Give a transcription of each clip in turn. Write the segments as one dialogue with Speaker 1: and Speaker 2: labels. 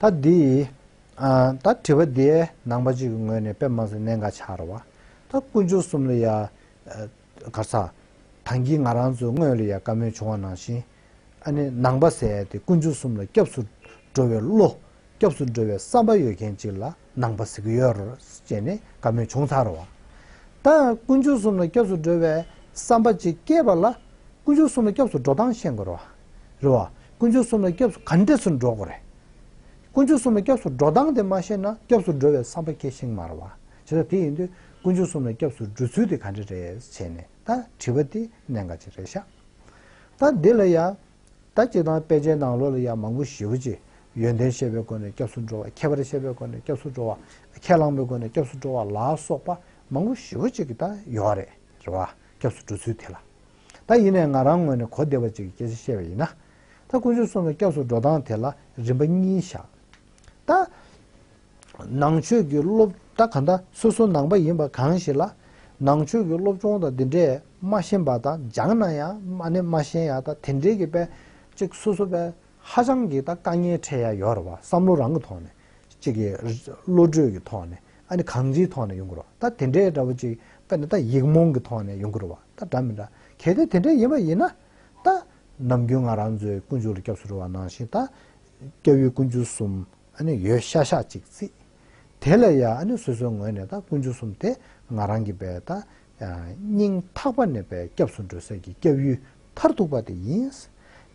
Speaker 1: ད་འདི་ཡི། ད་དྲི་བ་འདིའི་ནང་པ་གཅིག་གི་ངོས་ནས་དཔེ་མང་སའི་གནད་འགག་ཆགས་ར་བ། ད་དཀོན་མཆོག་གསུམ་ལ་ཡ། གར་ཚ། དང་གིས་ང་རང་ཚོའི་དངོས་ལ་ཡ་བཀའ་མོལ་བྱུང་བ་ནང་བཞིན། ཨ་ནི་ནང་པ་ཟེར་ཡ་དེ་དཀོན་མཆོག་གསུམ་ལ་སྐྱབས་སུ་འགྲོ་བའི་བློ། སྐྱབས་སུ་འགྲོ་བའི་བསམ་པ་ཡོད་མཁན་གཅིག་ལ་ནང་པ་ཟེར་གི་ཡོད་རེད་ཅེས་ནས་བཀའ་མོལ་བྱུང་ཚར་བ། ད་དཀོན་མཆོག་གསུམ་ལ་སྐྱབས་སུ་འགྲོ་བའི་བསམ་པ་གཅིག་སྐྱེས་པ་ལ། དཀོན་མཆོག་གསུམ་ལ་སྐྱབས་སུ་འགྲོ་སྟངས་ཤེས་དགོས་ར་བ། རེད་བ། དཀོན་མཆོག་གསུམ་ལ་སྐྱབས་སུ་ག་འདྲས་སུ་འགྲོ་དགོས་རེད། དཀོན་མཆོག་གསུམ་ལ་སྐྱབས་སུ་འགྲོ་སྟངས་དེ་མ་ཤེས་ན་སྐྱབས་སུ་འགྲོ་བའི་བསམ་པ་ཁྱེད་ཤིང་མ་རེད་བ། བྱས་ཙང་དེ་ཡིན་དུས་དཀོན་མཆོག་གསུམ་ལ་སྐྱབས་སུ་འགྲོ་ཚུལ་དེ་ག་འདྲས་རེད་བྱས་ནས་ད་དྲི་བ་དེ་གནད་འགག་ཅིག་རེད་ཤག། ད་འདི་ལ་ཡང་ད་སྤྱི་དང་དཔེ་ཆའི་ནང་ལོགས་ལ་ཡང་མང་པོ་ཞེ་བོ་ཅིག་ཡོན་ཏན་ཤེས་པའི་སྒོ་ནས་སྐྱབས་སུ་འགྲོ་བ་ཁྱད་པར་ཤེས་པའི་སྒོ་ནས་སྐྱབས་སུ་འགྲོ་བ། ཁས་བླངས་པའི་སྒོ་ནས་སྐྱབས་སུ་འགྲོ་བ་ལ་སོགས་པ་མང་པོ་ཞེ་བོ་ཅིག་ད་ཡོད་རེད་བ། སྐྱབས་སུ་འགྲོ་ཚུལ་དེ་ལ། ད་ཡིན་ནས་ང་རང་ངོས་ནས་གོ་བདེ་བ་ཅིག་གིས་ཁྱེད་ཚོས་བཤད་པ་ཡིན་ན། ད་དཀོན་མཆོག་གསུམ་ལ་སྐྱབས་སུ་འགྲོ་སྟངས་དེ་ལ་རིམ་པ་གཉིས་བཞག་ད། ནང་ཆོས་ཀྱི་སློབ་ད་ག་འདྲ་སོ་སོ་ནང་པ་ཡིན་པ་གང་ཞིག་ལ། ནང་ཆོས་ཀྱི་སློབ་སྦྱོང་དང་འདི་འདྲས་མ་ཤེས་པ་དང་སྦྱང་ན་ཡང་མ་ནས་མ་ཤེས་ཡ་ད་དེ་འདྲས་ཀྱི་པས་ཅིག་སོ་སོ་པས་ཧ་ཅང་གིས་ད་དཀའ་ངལ་འཕྲད་ཡ་ཡོད་རེད་བ་བསམ་བློ་རང་གི་ཐོག་ནས་ཅིག་གི་བློ་གྲོས་ཀྱི་ཐོག་ནས་ཨ་ནི་གང་ཅིའི་ཐོག་ནས་ཡོང་དགོས་རོགས་ད་དེ་འདྲའི་འདྲ་བོ་ཅིག་དཔེར་ན་ད་ཡིག་རྨོངས་ཀྱི་ཐོག་ནས་ཡོང་དགོས་རོགས་ད་འདྲ་མི་འདྲ་གལ་ཏེ་དེ་འདྲ་ཡིན་པ་ཡིན་ན་ད། ནམ་རྒྱུན་ང་རང་ཚོའི་དཀོན་མཆོག་ལ་སྐྱབས་སུ་རོལ་བ་ནང་བཞིན་ད། སྐྱབས་ཡུལ་དཀོན་མཆོག་གསུམ་ཨ་ནི་ཡོད་ཤག་ཤག་ཅིག་རྩིས། དེ་ལ་ཡང་ཨ་ནི་སོ་སོའི་ངོས་ནས་ད་དཀོན་མཆོག་གསུམ་དེ་ང་རང་གི་བས་ད་སྙིང་ཐག་པ་ནས་པའི་སྐྱབས་སུ་འགྲོ་ཟེར་གྱི་སྐྱབས་ཡུལ་མཐར་ཐུག་པ་དེ་ཡིན།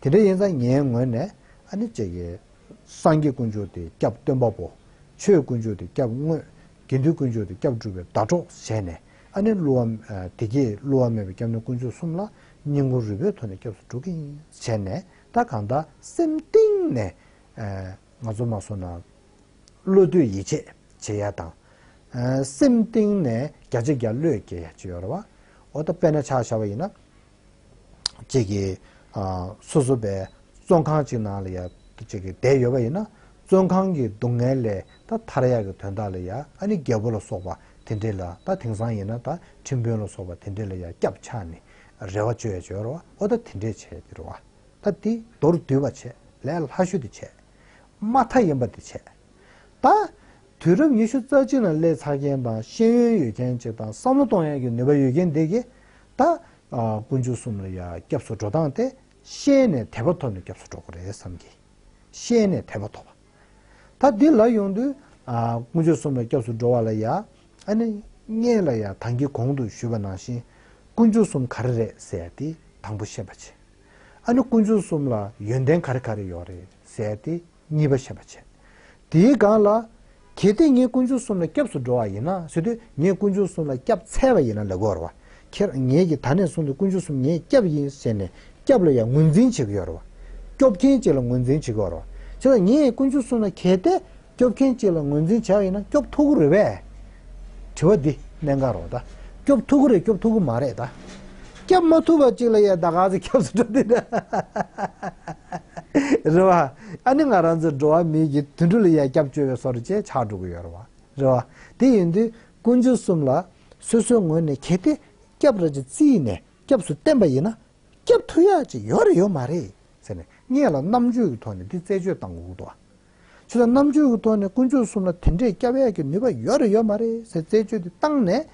Speaker 1: དེ་འདྲ་ཡིན་ཙང་ངའི་ངོས་ནས་ཨ་ནི་བྱས་ཀྱི། སངས་རྒྱས་དཀོན་མཆོག་དེ་སྐྱབས་སྟོན་པ་པོ། ཆོས་དཀོན་མཆོག་དེ་སྐྱབས་དངོས། དགེ་འདུན་དཀོན་མཆོག་དེ་སྐྱབས་སྒྲུབ་པའི་ཟླ་གྲོགས་བྱས་ནས་ཨ་ནི་བསླུ་བ། དེ་གྱིས་བསླུ་བ་མེད་པའི་སྐྱབས་གནས་དཀོན་མཆོག་གསུམ་ལ་སྙིང་ཁོང་རུས་པའི་ཐོག་ནས་སྐྱབས་སུ་འགྲོ་གིན་བྱས་ནས་ད་གང་ལྟར་སེམས་གཏིང་ནས། ང་ཚོ་མ་སོང་ན་བློ་བསྡུས་ཡིད་ཆེས་བྱེད་ཡ་དང། སེམས་གཏིང་ནས་རྒྱ་ཆེ་རྒྱ་བློས་བསྐྱེད་ཡ་ཅི་ཡོད་རེད་བ། འོ་ད་དཔེ་ན་ཆ་བཞག་པ་ཡིན་ན། ཅིག་གི་སོ་སོ་པའི་བཙོན་ཁང་ཅིག་ནང་ལ་ཡ་ཅིག་གི་བསྡད་ཡོད་པ་ཡིན་ན། བཙོན་ཁང་གི་སྡུག་བསྔལ་ལས་ད་ཐར་ཡ་གི་དོན་དག་ལ་ཡ་ཨ་ནི་རྒྱལ་པོ་ལ་སོགས་པ་དེ་འདྲས་ལ་ད་དེང་སང་ཡིན་ན་ད་ཁྲིམས་དཔོན་ལ་སོགས་པ་དེ་འདྲས་ལ་ཡ་སྐྱབས་ཆགས་ནི་རེ་བ་བཅོལ་ཡ་ཅི་ཡོད་རེད་བ་འོ་ད་དེ་འདྲས་བྱས་ཏེ་རེད་བ། ད་དེ་མདོར་བསྡུས་པ་བྱས་ལས་ལྷ་ཤུལ་དུ་བྱས། མ་མཐའ་ཡིན་པ་དེ་བྱས། ད། དུས་རབས་ཉི་ཤུ་རྩ་གཅིག་ལ་ཀླད་ཚར་མཁན་དང་ཤེས་ཡོན་ཡོད་མཁན་གཅིག་དང་བསམ་བློ་གཏོང་ཡག་གི་ནུས་པ་ཡོད་མཁན་དེ་གིས་ད། དཀོན་མཆོག་གསུམ་ལ་ཡ་སྐྱབས་སུ་འགྲོ་སྟངས་དེ་ཤེས་ནས་དད་པ་ཐོབ་ནས་སྐྱབས་སུ་འགྲོ་དགོས་རེད་བསམ་གི། ཤེས་ནས་དད་པ་ཐོབ་པ། ད་འདི་ལ་ཡོང་དུས། དཀོན་མཆོག་གསུམ་ལ་སྐྱབས་སུ་འགྲོ་བ་ལ་ཡ། ཨ་ནི། ངེད་ལ་ཡ་དང་གི་གོང་དུ་ཞུས་པ་ནང་བཞིན། དཀོན་མཆོག་གསུམ་ག་རེ་རེད་ཟེར་ཡ་དེ་དང་པོ་ཤེས་པ་བྱེད། ཨ་ནུ་དཀོན་མཆོག་གསུམ་ལ་ཡོན་ཏན་ག་རེ་ག་རེ་ཡོད་རེད་ཟེར་ཏེ་གཉིས་པ་བཤད་པ་བྱས། དེའི་སྒང་ལ། གལ་ཏེ་ངས་དཀོན་མཆོག་གསུམ་ལ་སྐྱབས་སུ་འགྲོ་བ་ཡིན་ན་ཟེར་དུས་ངས་དཀོན་མཆོག་གསུམ་ལ་སྐྱབས་འཚལ་བ་ཡིན་ན་ལ་གོར་བ། ཁྱེད་ངེད་ཀྱིས་ད་ནས་བཟུང་སྟེ་དཀོན་མཆོག་གསུམ་ངས་སྐྱབས་ཡིན་ཟེར་ནས་སྐྱབས་ལ་ཡང་ངོས་འཛིན་བྱེད་ཀྱི་ཡོད་རེད་བ། སྐྱོབ་མཁན་ཅིག་ལ་ངོས་འཛིན་བྱེད་ཀྱི་ཡོད་རེད་བ། ཁྱེད་ངས་དཀོན་མཆོག་གསུམ་ལ་གལ་ཏེ་སྐྱོབ་མཁན་གཅིག་ལ་ངོས་འཛིན་བྱེད་ཡིན་ན་སྐྱོབ་ཐུག་གི་རེད་བས། དྲི་བ་འདི་གནད་འགག་རོགས་ཟླ། སྐྱོབ་ཐུག་གི་རེད་སྐྱོབ་ཐུག་གི་མ་རེད་ད། སྐྱབས་མ་ཐུབ་པ་གཅིག་ལ་ཡ་ད་ག་ཟེ་སྐྱབས་སུ་འགྲོ་འདི་ད། རེད་བ། ཨ་ནི་ང་རང་ཚོ་འགྲོ་བ་མིའི་གྱི་དུད་འགྲོ་ལ་ཡ་སྐྱབས་བཅོལ་བའི་སོ་རེད་ཅེས་ཆགས་འགྲོ་གི་ཡོད་རེད་བ། རེད་བ། དེ་ཡིན་དུས་ཀུན་སྤྱོད་གསུམ་ལ་སོ་སོའི་ངོས་ནས་གལ་ཏེ་སྐྱབས་རེད་ཅེས་བརྩིས་ནས་སྐྱབས་སུ་བསྟན་པ་ཡིན་ན། སྐྱབས་ཐུག་ཡ་གཅིག་ཡོད་རེད་ཡོད་མ་རེད་ཟེར་ནས་ངེད་ལ་རྣམ་དཔྱོད་ཀྱི་ཐོག་ནས་འདི་རྩད་གཅོད་བཏང་དགོས་ཀྱི་འདུག་བ། ཆོས་དང་རྣམ་དཔྱོད་ཀྱི་ཐོག་ནས་དཀོན་མཆོག་གསུམ་ལ་དེ་འདྲའི་སྐྱབས་ཡས་ཀྱི་ནུས་པ་ཡོད་རེད་ཡོད་མ་རེད་ཟེར་རྩད་གཅོད་དེ་བཏང་ནས།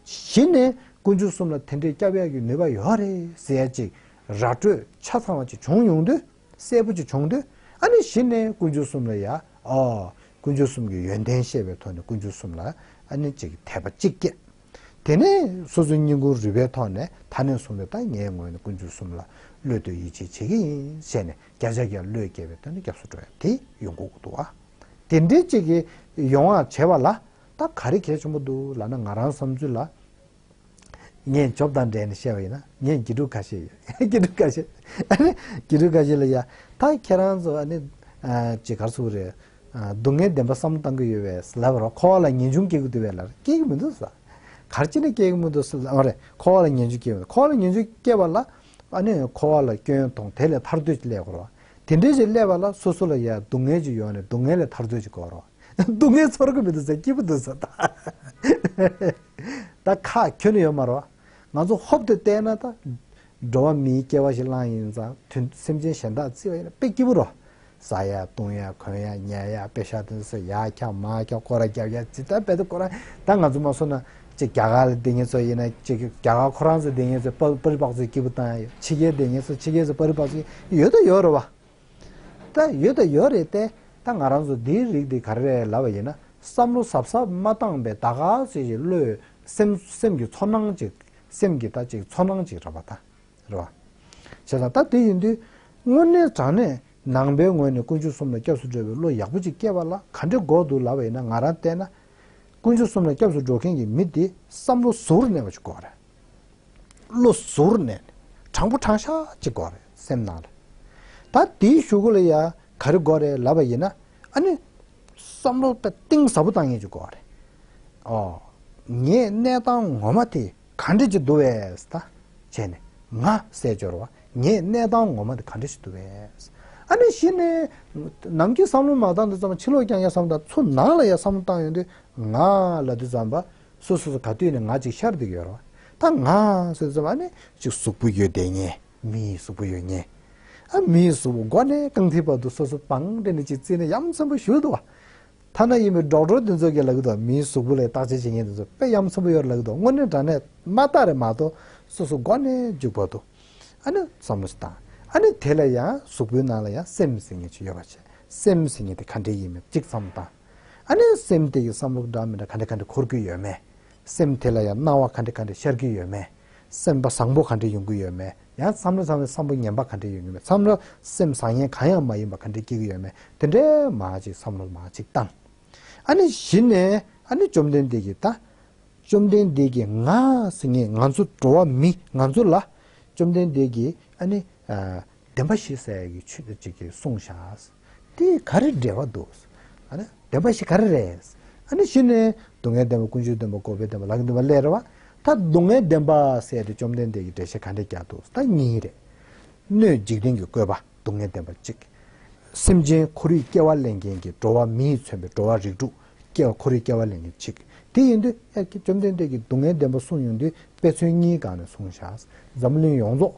Speaker 1: གཞི་ནས་དཀོན་མཆོག་གསུམ་ལ་དེ་འདྲའི་སྐྱབས་ཡས་ཀྱི་ནུས་པ་ཡོད་རེད་ཟེར་ཡ་ཅིག་ར་སྤྲོད་ཆ་ཚང་བ་ཅིག་བྱུང་ཡོང་དུས་གསལ་པོ་ཅིག་བྱུང་དུས་ཨ་ནི་གཞི་ནས་དཀོན་མཆོག་གསུམ་ལ་ཡ་ཨོ། དཀོན་མཆོག་གསུམ་གྱི་ཡོན་ཏན་ཤེས་པའི་ཐོག་ནས་དཀོན་མཆོག་གསུམ་ལ་ཨ་ནི་ཅིག་དད་པ་གཅིག་སྐྱེས། དེ་ནས་སོ་སོའི་སྙིང་ཁུང་རུས་པའི་ཐོག་ནས་ད་ནས་བཟུང་སྟེ་ད་ངས་ངོས་ནས་དཀོན་མཆོག་གསུམ་ལ་བློས་གཏོད་ཡིད་ཆེས་བྱེད་ཀྱི་ཡིན་ཞེས་ནས་བརྒྱ་ཆ་བརྒྱ་བློས་འགེལ་བའི་དོན་དུ་སྐྱབས་སུ་འགྲོ་ཡང་དེ་ཡོང་གོ་དགོས་འདུག་ཨ། དེ་འདྲའི་གཅིག་གི་ཡོང་བ་བྱས་བ་ལ་ད་ག་རེ་གལ་ཆེན་པོ་འདུག་ལ་ན་ང་རང་བསམ་ཚུལ་ལ། ངས་རྗོབ་དང་འབྲེལ་ནས་བཤད་པ་ཡིན་ན་ངས་དགེ་ཕྲུག་ཁ་ཤས་ཡོད་དགེ་ཕྲུག་ཁ་ཤས་ཨ་ནི་དགེ་ཕྲུག་ཁ་ཤས་ལ་ཡ་ད་ཁྱེད་རང་ཚོ་ཨ་ནི། ཅི་གར་སུ་རེད། སྡུག་བསྔལ་བདེན་པ་བསམ་བློ་བཏང་གི་ཡོད་བས་ལབ་རོགས་ཁོ་བ་ལ་ངེས་འབྱུང་སྐྱེ་གི་འདུག་བས་ལབ་རོགས་སྐྱེ་གི་མི་འདུག་ས། གར་ཅི་ནས་སྐྱེ་གི་མི་འདུག་ས་ཨ་རེ་ཁོ་བ་ལ་ངེས་འབྱུང་སྐྱེ་གི་མི་འདུག་ཁོ་བ་ལ་ངེས་འབྱུང་སྐྱེ་བ་ལ། པ་ནི་འཁོར་བ་ལ་སྐྱོན་དང་དེ་ལས་ཐར་འདོད་ཀྱི་སླད་གོ། དེ་འདྲའི་ཞིག་སླད་པ་ལ་སོ་སོ་ལ་ཡང་སྡུག་བསྔལ་གྱི་ཡོ་ནི་སྡུག་བསྔལ་ལས་ཐར་འདོད་ཀྱི་སྐོར་རོ། སྡུག་བསྔལ་ཚོར་གི་མི་འདུག་ཟེར་སྐྱིད་པོ་འདུག་ཟེར། ད་ཁ་ཁྱོད་ནི་ཡོད་མ་རོ། ང་ཚོ་ཧོབ་ཏུ་བལྟས་ན་ད། འགྲོ་བ་མིའི་སྐྱེ་བ་ཞིག་བླངས་ཡིན་ཙང་དུས་སེམས་ཅན་གཞན་དག་བརྩི་བ་ཡིན་ན་དཔེ་སྐྱིད་པོ་རོ། ཟ་ཡ་བཏུང་ཡ་གོན་ཡ་ཉལ་ཡ་དཔེ་ཤ་དོན་ཟ་ཡ་འཁྱག་མ་འཁྱག་སྐོར་ར་རྒྱབ་ཡ་ཇི་ལྟར་འབད་དུ་སྐོར་ར་ད་ང་ཚོ་མ་སོ་ན་ཅིག་རྒྱ་གར་ལ་དེ་ངེད་ཚོ་ཡིན་ན་ཅིག་རྒྱ་གར་ཁོ་རང་ཚོ་དེ་ངེད་ཚོ་པ་རི་པགས་ཚོའི་སྐྱིད་པོ་བཏང་ཡ་ཡོད་ཕྱི་རྒྱལ་དེ་ངེད་ཚོ་ཕྱི་རྒྱལ་ཚོ་པ་རི་པགས་ཚོའི་ཡོད་དོ་ཡོད་རེད་བ། ད་ཡོད་དོ་ཡོད་རེད་ཏེ་ད་ང་རང་ཚོ་འདིའི་རིགས་འདི་ག་རེ་རེད་ལབ་བ་ཡིན་ན་བསམ་བློ་ཟབ་ཟབ་མ་བཏང་པའི་ད་ག་ཚོད་ཅིག་བློས་སེམས་སེམས་ཀྱི་ཚོར་སྣང་ཅིག་སེམས་ཀྱི་ད་ཅིག་ཚོར་སྣང་ཅིག་ར་བ་ད། རེད་བ། ཞེས་དང་ད་དེ་ཡིན་དུས། དངོས་གནས་དྲང་གནས་ནང་པའི་ངོས་ནས་དཀོན་མཆོག་གསུམ་ལ་སྐྱབས་སུ་འགྲོ་བའི་བློ་ཡག་པོ་ཅིག་སྐྱེས་པ་ལ་ག་འདྲའི་དགོས་འདུག་ལབ་པ་ཡིན་ན་ང་རང་བལྟས་ན། དཀོན་མཆོག་གསུམ་ལ་སྐྱབས་སུ་འགྲོ་མཁན་གྱི་མི་དེ་བསམ་བློ་གཟུ་བོར་གནས་པ་ཅིག་དགོས་རེད། བློ་གཟུ་བོར་གནས་ནས་དྲང་པོ་དྲང་ཤག་ཅིག་དགོས་རེད་སེམས་ནང་ལ། ད་དེའི་ཞུ་སྒོ་ལ་ཡང་ག་རེ་དགོས་རེད་ལབ་པ་ཡིན་ན། ཨ་ནི། བསམ་བློ་གཏིང་ཟབ་པོ་བཏང་ངེས་ཅིག་དགོས་རེད། ཨོ། ངས་གནས་སྟངས་ངོ་མ་དེ་གང་འདྲེ་ཅི་འདུ་བས། ད་བྱས་ནས། ང་སྲས་སྦྱོར་བ། ངས་གནས་དང་ངོ་མ་འདི་གང་འདྲེ་ཅི་འདུ་བས། ཨ་ནི་ཤི་ནི། ནམ་གྱི་བསམ་བློ་མ་བཏང་དུས་ཙམ་ཕྱི་ལོགས་ཀྱང་ཡ་བསམ་བཏང་ཚུར་ནང་ལ་ཡ་བསམ་བློ་བཏང་ཡོང་དུས་ང་ལ་དུས་ཙམ་པ། སུ་སུ་སུ་ག་དུས་ནས་ང་ཅིག་ཤར་འདུག་ཡོད་རེད་བ། ད་ང་སྲས་དུས་ཙམ་ཨ་ནི་ཅིག་གཟུགས་པོ་ཡོད་བསྡད་ཉེ། མིའི་གཟུགས་པོ་ཡོད་ཉེ། ཨ་མིའི་གཟུགས་པོ་མགོ་ནས་རྐང་མཐིལ་བར་དུ་སོ་སོ་པང་འདྲེ་ནི་ཅིག་བརྩིས་ནས་ཡ་མཚན་པོ་བཞུགས་འདུག་བ། ཐ་ན་ཡིན་པའི་སྒྲོག་དྲོ་དེ་ཚོ་གི་ལག་གི་དོ་མིའི་གཟུགས་པོ་ལས་བརྟག་དཔྱད་བྱེད་མཁན་དེ་ཚོ་པད་ཡམ་ཚོམ་བུ་ཡོད་ལག་གི་དོ་དངོས་གནས་དྲ་གནས་མ་བརྟག་རེད་མ་གཏོགས་སོ་སོ་མགོ་ནས་རྒྱུག་པ་འདུག་ཨ་ནི་བསམ་བློ་ཞིག་བཏང་ཨ་ནི་དེ་ལ་ཡང་གཟུགས་པོའི་ནང་ལ་ཡང་སེམས་ཟེར་ངེས་ཅིག་ཡོད་པ་བྱས་སེམས་ཟེར་ངེས་དེ་ག་འདྲའི་ཡིན་མིན་གཅིག་བསམ་བློ་བཏང་ཨ་ནི་སེམས་དེ་ཡི་བསམ་བློ་ག་འདྲ་མི་འདྲ་ག་འདྲ་ག་འདྲ་འཁོར་གྱི་ཡོད་མེད། སེམས་དེ་ལ་ཡང་སྣང་བ་ག་འདྲེ་ག་འདྲེ་ཤར་གྱི་ཡོད་མེད། སེམས་པ་བཟང་པོ་ག་འདྲེ་ཡོང་གི་ཡོད་མེད་ཡང་བསམ་བློ་བཟང་བའི་བསམ་བོ་ངན་པ་ག་འདྲེ་ཡོང་གི་མེད་བསམ་བློ་སེམས་བཟང་ངན་གང་ཡང་མ་ཡིན་པ་ག་འདྲེ་སྐྱེ་གི་ཡོད་མེད་དེ་འདྲའི་མ་ཅིག་བསམ་བློ་མ་ཅིག་བཏང། ཨ་ནི་གཞི་ནས་ཨ་ནི་བཅོམ་ལྡན་འདས་ཀྱིས་ད། བཅོམ་ལྡན་འདས་ཀྱིས་ང་སེ་ངེ་ང་ཚོ་འགྲོ་བ་མི་ང་ཚོ་ལ། བཅོམ་ལྡན་འདས་ཀྱིས་ཨ་ནི། བདེན་པ་ཞིག་ཟེར་ཡག་གི་ཆོས་ཅིག་གིས་གསུངས་ཤག། དེ་ག་རེ་འབྲེལ་བ་འདུག། བདེན་པ་ཞིག་ག་རེ་རེད། ཨ་ནི་ཤི་ནས། སྡུག་བསྔལ་བདེན་པ་ཀུན་སྤྱོད་བདེན་པ་འཁོར་བའི་བདེན་པ་ལག་གི་བདེན་པ་ལས་རེ་བ། ད་སྡུག་བསྔལ་བདེན་པ་བསལ་ཏེ་བཅོམ་ལྡན་འདས་ཀྱིས་འགྲེལ་བཤད་ག་འདྲ་རྒྱག་འདུག་ད་གཉིས་རེད། སྣོད་འཇིག་རྟེན་གྱི་བཀོད་པ་སྡུག་བསྔལ་བདེན་པ་གཅིག། སེམས་ཅན་ཁོར་ཡུག་སྐྱེ་བ་གླེང་མཁན་གྱི་འགྲོ་བ་མིས་མཚོན་པའི་འགྲོ་བ་རིགས་དྲུག་སྐྱེ་བ་ཁོར་ཡུག་སྐྱེ་བ་གླེང་མཁན་གཅིག། དེ་ཡིན་དུས་ཨ་ཀྱེ་བཅོམ་ལྡན་འདས་ཀྱིས་སྡུག་བསྔལ་བདེན་པ་གསུངས་ཡོང་དུས་དཔེ་མཚོན་གཉིས་གང་ནས་གསུངས་བཞག་འཛམ་གླིང་ཡོངས་རྫོགས་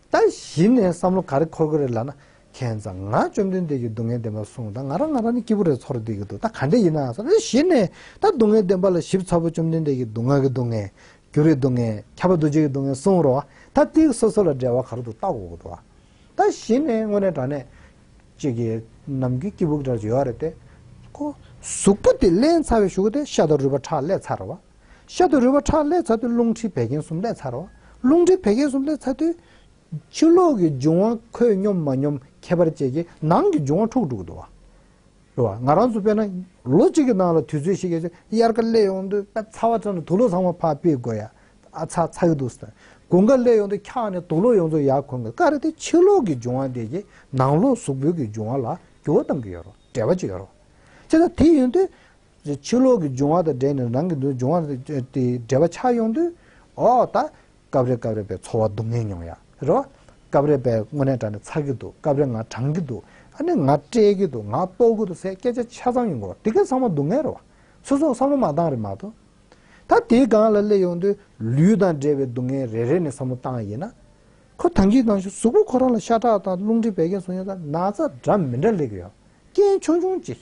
Speaker 1: ད་གཞི་ནས་བསམ་བློ་ག་རེ་འཁོར་གི་རེད་ལབ་ན། ཁྱེད་རང་ཚང་མ་བཅོམ་ལྡན་འདས་ཀྱིས་སྡུག་བསྔལ་བདེན་པ་གསུངས་ད་ང་རང་ང་རང་ནི་སྐྱིད་པོ་རེད་ཚོར་བསྡད་ཀྱི་འདུག་ད་ག་འདྲས་ཡིན་ནའང་བསམ་ད་གཞི་ནས་ད་སྡུག་བསྔལ་བདེན་པ་ལ་ཞིབ་ཚགས་པོ་བཅོམ་ལྡན་འདས་ཀྱིས་སྡུག་བསྔལ་གྱི་སྡུག་བསྔལ། རྒྱུ་རིགས་སྡུག་བསྔལ། ཁྱབ་པ་འདུ་བྱེད་ཀྱི་སྡུག་བསྔལ་གསུངས་རོགས་ད་སྟེའུ་སོ་སོ་ལ་འགྲེལ་བ་ག་རེ་འདུག་ལྟ་གོ་གདོ་བ། ད་གཞི་ནས་དངོས་གནས་དྲ་གནས། ཅིག་གིས་ནམ་རྒྱུན་སྐྱིད་པོ་གི་གྲར་བྱོལ་བ་རེད་དེ། ཁོ། གཟུགས་པོ་དེ་བརླན་ཚར་བའི་ཞུགས་ཏེ་ཤ་དང་རུས་པ་ཁྲག་བསླད་ཚར་བ། ཤ་དུ་རུལ་བ་ཁྲག་ལས་ཚ་དུས་རླུང་མཁྲིས་བད་ཀན་གསུམ་ལས་ཚ་རོ། རླུང་མཁྲིས་བད་ཀན་གསུམ་ལས་ཚ་དུས། ཆུ་ལོག་གི་འབྱུང་བ་ཁོད་སྙོམས་མ་སྙོམས་ཁྱད་པར་བཅས་ཀྱིས་ནང་གི་འབྱུང་བ་འཁྲུགས་འགྲོ་གི་འདུག་བ། ང་རང་ཚོ་དཔེར་ན་ལོ་གཅིག་གི་ནང་ལ་དུས་ཚོད་ཤིག་གི་ཚེ་དབྱར་ཁ་སླེབས་ཡོང་དུས་ཨ་ཚ་བ་ཚོ་ནི་དུག་ལོག་ཚང་མ་ཕར་སྤེལ་དགོས་ཡ་ཨ་ཚ་ཚ་གི་འདུག་ཟེར། དགུན་ཁ་སླེབས་ཡོང་དུས་འཁྱག་ནས་དུག་ལོག་ཡོང་ཚོ་ཡར་འཁོན་དགོས་ཀ་རེ་དེ་ཆུ་ལོག་གི་འབྱུང་བ་དེ་ཀྱིས་ནང་ལོག་གཟུགས་པོའི་གི་འབྱུང་བ་ལ་འགྱུར་བ་གཏང་གི་ཡོད་རོ་འབྲེལ་བ་ཅིག་ཡོད་རོ། ཅེ་ན་དེ་ཡོང་དུས། རེད། ཕྱི་ལོག་གི་འབྱུང་བ་དང་འབྲེལ་ནས་རང་གི་འདུན་འབྱུང་བ་དེ་འབྲེལ་བ་ཆགས་ཡོང་དུས། འོ་ད། སྐབས་རེ་སྐབས་རེ་བའི་ཚོར་བ་སྡུག་བསྔལ་མྱོང་ཡ་རེད། བ། སྐབས་རེ་བའི་དངོས་གནས་དྲ་ནས་ཚར་གི་འདུག་སྐབས་རེ་ང་བགྲང་གི་འདུག་ཨ་ནི་ང་སྤྲད་གི་འདུག་ང་ལྟོགས་གི་འདུག་ཟེར་སྐད་ཆ་ཆ་ཚང་ཡོང་གི་འོ་དེ་གའི་བསམ་བློ་སྡུག་བསྔལ་རེད་བ། སོ་སོ་བསམ་བློ་མ་བཏང་རེད་མ་གཏོགས། ད་དེའི་སྒང་ལ་སླེབས་ཡོང་དུས་ལུས་དང་འབྲེལ་བའི་སྡུག་བསྔལ་རེ་རེ་ནས་བསམ་བློ་བཏང་ཡིན་ན། ཁོ་དང་གིས་དང་ཞུ་གཟུགས་པོ་ཁོ་རང་ལ་ཤ་ཁྲག་དང་རླུང་མཁྲིས་བད་ཀན་བཟུང་ཡོད་ས་ན་ཚ་གྲབས་མི་འདྲ་ལེགས་ཡོད་རྐྱེན་ཆུང་ཆུང་ཅིག།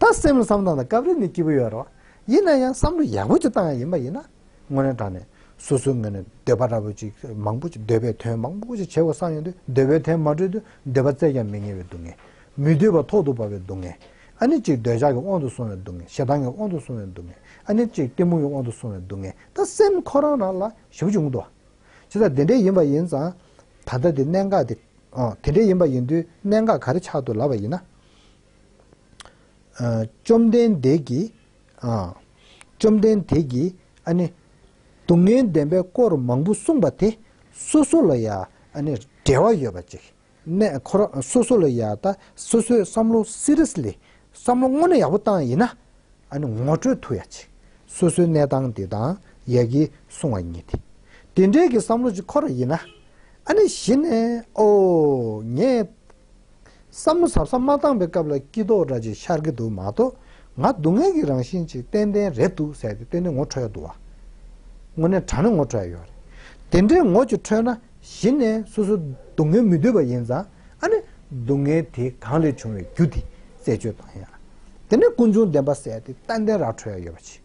Speaker 1: ད་སེམས་ལ་བསམ་གཏན་དང་སྐབས་རེ་ནི་སྐྱིད་པོ་ཡོད་རོགས། ཡིན་ན་ཡང་བསམ་བློ་ཡག་པོ་ཅིག་བཏང་ཡ་ཡིན་པ་ཡིན་ན། དངོས་རེན་དྲང་ནས་སོ་སོའི་ངོས་ནས་འདོད་པ་འདྲ་པོ་ཅིག་མང་པོ་ཅིག་འདོད་པའི་དོན་མང་པོ་ཅིག་བྱེད་དགོས་བསམ་ཡོང་དུས་འདོད་པའི་དོན་མ་གྲོལ་དུས་འདོད་པ་བཙལ་ཀྱང་མི་ཉན་བའི་སྡུག་བསྔལ། མི་འདོད་པ་ཐོག་ཏུ་བབས་པའི་སྡུག་བསྔལ། ཨ་ནི་ཅིག་འདོད་ཆགས་ཀྱི་དབང་དུ་སོང་བའི་སྡུག་བསྔལ་ཞེ་སྡང་གི་དབང་དུ་སོང་བའི་སྡུག་བསྔལ། ཨ་ནི་ཅིག་གཏི་མུག་གི་དབང་དུ་སོང་བའི་སྡུག་བསྔལ་ད་སེམས་ཁོ་རང་རང་ལ་ཞིབ་འཇུག་མདོ། ཇི་ལྟར་དེ་འདྲའི་ཡིན་པ་ཡིན་ཙང། ད་ལྟ་དེ་གནད་འགག་དེ། དེ་འདྲའི་ཡིན་པ་ཡིན་དུས་གནད་འགག་ག་རེ་ཆགས་འདུག་ལབ་པ་ཡིན་ན། བཅོམ་ལྡན་འདས་ཀྱིས། བཅོམ་ལྡན་འདས་ཀྱིས་ཨ་ནི། སྡུག་བསྔལ་བདེན་པའི་སྐོར་མང་པོ་གསུངས་པ་དེ་སོ་སོ་ལ་ཡང་ཨ་ནི་འབྲེལ་བ་ཡོད་པ་ཅིག་གནས་ཁོ་རང་སོ་སོ་ལ་ཡང་ད་སོ་སོའི་བསམ་བློ Seriously བསམ་བློ་དངོས་གནས་ཡག་པོ་བཏང་ཡིན་ན་ཨ་ནི་ངོ་སྤྲོད་ཐུབ་ཡག་ཅིག་སོ་སོའི་གནས་སྟངས་དེ་དང་ཡག་གི་གསུངས་བ་ཉིད་དེ་དེ་འདྲའི་གི་བསམ་བློ་ཅིག་ཁོ་ར་ཡིན་ན་ཨ་ནི་གཞི་ནས་ཨོ་ངས། བསམ་བློ་ཟབ་ཟབ་མ་བཏང་པའི་སྐབས་ལ་སྐྱིད་དོག་འདྲ་ཅིག་ཤར་གྱི་འདུག་མ་གཏོགས་ང་སྡུག་བསྔལ་གྱི་རང་བཞིན་ཅིག་ཏན་ཏན་རེད་འདུག་ཟེར་ཏེ་ཏན་ཏན་ངོ་འཕྲོད་ཡ་འདུག་བ། དངོས་གནས་དྲང་ནས་ངོ་འཕྲོད་ཡ་ཡོད་རེད། དེ་འདྲའི་ངོ་ཅིག་འཕྲོད་ན་གཞི་ནས་སོ་སོ་སྡུག་བསྔལ་མི་འདོད་པ་ཡིན་ཙང་ཨ་ནི་སྡུག་བསྔལ་དེ་གང་ལས་བྱུང་བའི་རྒྱུ་དེ་རྩད་གཅོད་གཏོང་ཡ། དེ་ནས་ཀུན་འབྱུང་བདེན་པ་བསལ་ཏེ་ཏན་ཏན་ར་འཕྲོད་ཡ་ཡོད་པ་ཆེ།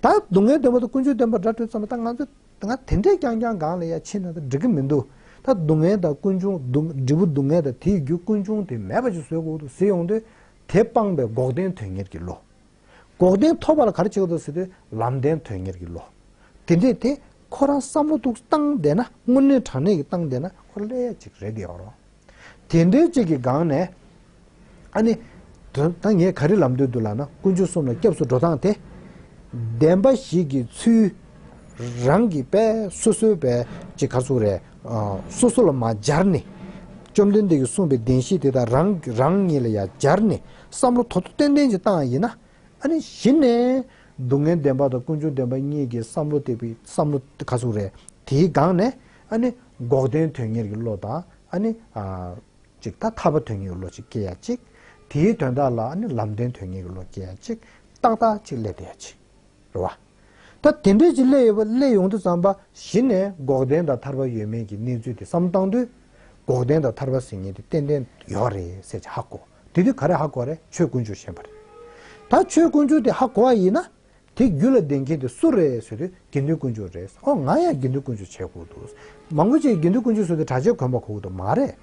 Speaker 1: ད་སྡུག་བསྔལ་བདེན་པ་དང་ཀུན་འབྱུང་བདེན་པ་འདྲ་འཕྲོད་ཙམ་ལ་ད་ང་ཚོས་ད་ང་དེ་འདྲས་ཀྱང་ཀྱང་གང་ལ་ཡང་ཕྱིན་ན་ད་འགྲིག་གི་མི་འདུག་ད་སྡུག་བསྔལ་དང་ཀུན་འབྱུང་འབྲས་བུ་སྡུག་བསྔལ་དང་དེའི་རྒྱུ་ཀུན་འབྱུང་དེ་མེད་པ་ཅིག་བཟོས་གོ་ཐུག་ཟིན་ཡོང་དུས་དེ་སྤངས་པའི་འགོག་བདེན་དོན་གཉེར་གྱི་བློ། འགོག་བདེན་ཐོབ་པ་ལ་གར་བྱེད་གོ་ཐུག་ཟེར་དུས་ལམ་བདེན་དོན་གཉེར་གྱི་བློ། དེ་འདྲས་དེ་ཁོ་རང་བསམ་བློ་ཐུགས་སྟངས་བདེ་ན་དངོས་གནས་དྲང་གནས་ཀྱི་སྟངས་བདེ་ན་ཁོ་ལས་ཡག་ཅིག་རེག་ཡོང་རོགས། དེ་འདྲའི་གཅིག་གི་སྒང་ནས། ཨ་ནི། དོན་དག་ངས་ག་རེ་ལབ་འདོད་འདུག་ལགས་ན་དཀོན་མཆོག་གསུམ་ལ་སྐྱབས་སུ་འགྲོ་སྟངས་དེ། བདེན་པ་ཞིག་གི་ཚུལ། རང་གི་པས་སོ་སོའི་པས་ཅི་གར་ཚུགས་རེད། སོ་སོ་ལ་མ་སྦྱར་ནི། བཅོམ་ལྡན་འདས་ཀྱིས་གསུངས་པའི་བདེན་བཞི་དེ་དག་རང་རང་ཉིད་ལ་ཡང་སྦྱར་ནས་བསམ་བློ་དོ་དོ་ཏན་ཏན་གྱིས་བཏང་ཡིན་ན། ཨ་ནི་གཞི་ནས། སྡུག་བསྔལ་བདེན་པ་དང་དཀོན་མཆོག་བདེན་པ་གཉིས་ཀྱི་བསམ་བློ་དེ་བསམ་བློ་ག་ཚུགས་རེད། དེའི་སྒང་ནས། ཨ་ནི། འགོག་བདེན་དོན་གཉེར་གྱི་བློ་དང། ཨ་ནི། ཅིག། ཐ་ཐ་བ་དོན་གཉེར་གྱི་བློ་ཅིག་སྐྱེ་ཡ་ཅིག། དེའི་དོན་དག་ལ་ཨ་ནི་ལམ་བདེན་དོན་གཉེར་གྱི་བློ་སྐྱེ་ཡ་ཅིག། ཏག་ཏག་ཅིག་སླད་དེ་ཡ་ཅིག། རེད་བ། ད་དེ་འདྲས་ཅིག་སླད་ཡོད་པ་སླད་ཡོང་དུ་བརྩམས་པ་གཞི་ནས་འགོག་བདེན་དང་ཐར་པ་ཡོད་མེད་ཀྱི་གནས་ཚུལ་དེ་བསམ་བཏང་དུས། འགོག་བདེན་དང་ཐར་པ་ཟེར་ངེས་དེ་ཏན་ཏན་ཡོད་པ་རེད་ཟེར་ཅིག་ཧ་གོ། དེ་དུས་ག་རེ་ཧ་གོ་བ་རེད་ཆོས་དཀོན་མཆོག་ཞེན་པ་རེད། ད་ཆོས་དཀོན་མཆོག་དེ་ཧ་གོ་བ་ཡིན་ན། དེ་རྒྱུད་ལ་ལྡན་མཁན་དེ་སུ་རེད་ཟེར་དུས་དགེ་འདུན་དཀོན་མཆོག་རེད་ཟེར་ཨོ་ང་ཡང་དགེ་འདུན་དཀོན་མཆོག་བྱས་ཁུག་འདུག་མང་པོ་ཅིག་དགེ་འདུན་དཀོན་མཆོག་ཟེར་དུས་གྲྭ་ཆས་གོན་པ་ཁུག་འདུག་མ་རེད།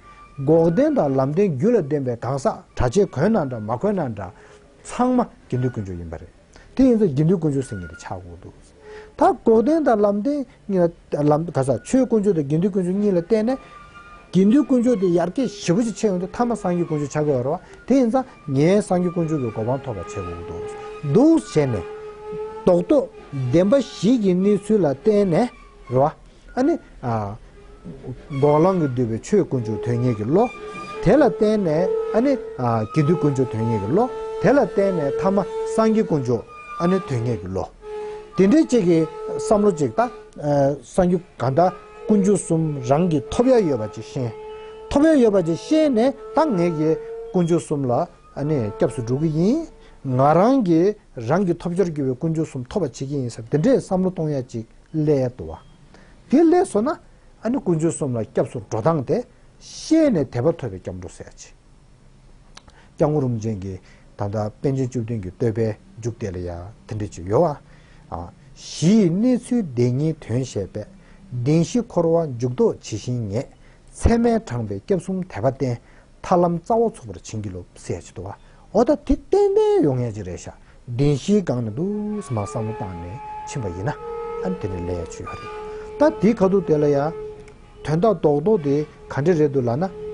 Speaker 1: འགོག་བདེན་དང་ལམ་བདེན་རྒྱུད་ལ་ལྡན་པའི་གང་ཟག་གྲྭ་ཆས་གོན་ན་འདྲ་མ་གོན་ན་འདྲ། ཚང་མ་དགེ་འདུན་དཀོན་མཆོག་ཡིན་པ་རེད། དེ་ཡིན་ཚ་དགེ་འདུན་དཀོན་མཆོག་ཟེར་ངེས་རེད་ཆག་ཁུག་འདུག་ད་འགོག་བདེན་དང་ལམ་བདེན་གཉིས། ལམ་དུ་ག་ས་ཆོས་དཀོན་མཆོག་དང་དགེ་འདུན་དཀོན་མཆོག་གཉིས་ལ་བརྟེན་ནས། དགེ་འདུན་དཀོན་མཆོག་དེ་ཡར་སྐྱེད་ཞི་བ་ཅིག་ཆེ་ཡོང་དུས་མཐའ་མ་སངས་རྒྱས་དཀོན་མཆོག་ཆགས་དགོས་རོ། དེ་ཡིན་ཙང་ངས་སངས་རྒྱས་དཀོན་མཆོག་གི་གོ་འཕང་ཐོབ་པ་བྱེད་དགོས་ཀྱི་འདུག་འདུག་བྱས་ནས། རྡོག་ཐོ་བདེན་པ་ཞིག་གི་གནས་ཚུལ་ལ་བརྟེན་ནས་རེད་བ། ཨ་ནི། འགོག་ལམ་གྱིས་བསྡུས་པའི་ཆོས་དཀོན་མཆོག་དོན་གཉེར་གྱི་བློ། དེ་ལ་བརྟེན་ནས་ཨ་ནི། དགེ་འདུན་དཀོན་མཆོག་དོན་གཉེར་གྱི་བློ། དེ་ལ་བརྟེན་ནས་ཐ་མ་སངས་རྒྱས་དཀོན་མཆོག་ཨ་ནི་དོན་གཉེར་གྱི་བློ། དེ་འདྲའི་ཅིག་གི་བསམ་བློ་ཅིག་ལྟ། སངས་རྒྱས་གང་དག་དཀོན་མཆོག་གསུམ་རང་གིས་ཐོབ་ཡ་ཡོད་པ་ཅིག་ཤེས། ཐོབ་ཡ་ཡོད་པ་ཅིག་ཤེས་ནས་ད་ངེད་ཀྱིས་དཀོན་མཆོག་གསུམ་ལ་ཨ་ནི་སྐྱབས་སུ་འགྲོ་གི་ཡིན། ང་རང་གིས་རང་གི་ཐོབ་བྱར་གྱུར་པའི་དཀོན་མཆོག་གསུམ་ཐོབ་པ་བྱེད་ཀྱི་ཡིན་ཟེར་བ་འདི་འདྲའི་བསམ་བློ་གཏོང་ཡ་ཅིག་སླད་དུ་བ། དེ་ལས་སོ་ན། ཨ་ནི་ཀུན་སྤྱོད་གསུམ་ལ་སྐྱབས་སུ་འགྲོ་སྟངས་དེ། ཤེས་ནས་དད་པ་ཐོབ་པའི་སྐྱབས་འགྲོ་ཟེར་ཡ་ཆེ། སྐྱབས་ངོ་རུམ་ཅན་གྱི་ད་ལྟ་པཎ་ཆེན་བཅུ་བདུན་གྱི་བསྟོད་པའི་མཇུག་དེ་ལ་ཡང་དེ་འདྲ་ཅིག་ཡོད། གཞི་ཡི་གནས་ཚུལ་བདེན་གཉིས་དོན་བཤད་པས། བདེན་བཞི་འཁོར་བ་འཇུག་ལྡོག་ཇི་བཞིན་ངེས། ཚད་མས་དྲངས་པའི་སྐྱབས་གསུམ་དད་པ་བརྟན། ཐར་ལམ་རྩ་བ་ཚུགས་པར་བྱིན་གྱིས་རློབས། ཟེར་ཡ་ཆེ། དུ་བ་ཨོ་ད་དེ་ཏན་ཏན་ཡོང་ངེས་ཀྱི་རེད་ཤག་བདེན་བཞིའི་སྒང་ན་འདུག་སྨ་བསམ་བློ་བཏང་ནས་ཕྱིན་པ་ཡིན་ན་དེ་ནི་ལས་ཡག་བྱུས་ཡོད་རེད་ད་དེའི་ཁ་ཐུག་དེ་ལ་ཡང་དོན་དག་རྡོག་རྡོག་དེ་ག་འདྲེ་རེད་འདུག་ལགས་ན།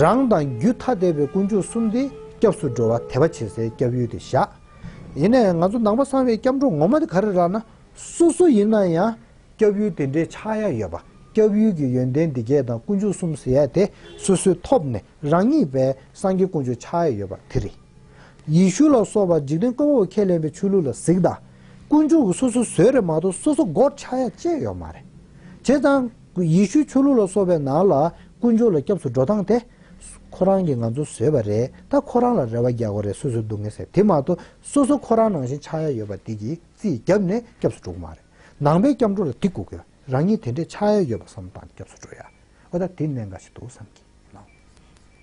Speaker 1: རང་དང་རྒྱུད་ཐ་དད་པའི་དཀོན་མཆོག་གསུམ་དེ་སྐྱབས་སུ་འགྲོ་བ་དད་པ་བྱེད་སའི་སྐྱབས་ཡུལ་དེ་ཤག་ཡིན་ནའི་ང་ཚོ་ནང་པ་ཚང་བའི་སྐྱབས་འགྲོ་ངོ་མ་དེ་ག་རེད་ལགས་ན་སོ་སོ་ཡིན་ན་ཡང་སྐྱབས་ཡུལ་དེ་འདྲའི་ཆགས་ཡ་ཡོད་པ་སྐྱབས་ཡུལ་གྱི་ཡོན་ཏན་དེ་བརྒྱད་དང་དཀོན་མཆོག་གསུམ་ཟེར་ཡ་དེ་སོ་སོའི་ཐོབ་ནས་རང་ཉིད་པའི་སངས་རྒྱས་དཀོན་མཆོག་ཆགས་ཡས་ཡོད་པ་དེ་རེད། ཡེ་ཤུ་ལ་སོགས་པ་འཇིག་རྟེན་ཀུན་འོག་ཁས་ལེན་པའི་ཆོས་ལུགས་ལ་གཟིགས་དང། དཀོན་མཆོག་གི་སོ་སོ་བཟོས་རེད་མ་གཏོགས་སོ་སོ་སྒོར་ཆགས་ཡ་བཅས་ཡོད་མ་རེད། བྱས་ཙང། ཡེ་ཤུའི་ཆོས་ལུགས་ལ་སོགས་པའི་ནང་ལ་དཀོན་མཆོག་ལ་སྐྱབས་སུ་འགྲོ་སྟངས་དེ། ཁོ་རང་གིས་ང་ཚོ་བཟོས་པ་རེད་ད་ཁོ་རང་ལ་རེ་བ་རྒྱག་གོ་རེ་སོ་སོའི་སྡུག་བསྔལ་སེལ་དེ་མ་གཏོགས་སོ་སོ་ཁོ་རང་ནང་བཞིན་ཆགས་ཡ་ཡོད་པ་དེ་གིས་རྩིས་བརྒྱབ་ནས་སྐྱབས་སུ་འགྲོ་གི་མ་རེད། ནང་པའི་སྐྱབས་འགྲོ་ལ་དེ་སྒུག་གི། རང་ཉིད་དེ་འདྲའི་ཆགས་ཡ་ཡོད་པ་སོམས་དང་སྐྱབས་སུ་འགྲོ་ཡ། ཨོ་ད་དེ་གནད་འགག་ཅིག་འདུག་བསམ་གྱིས།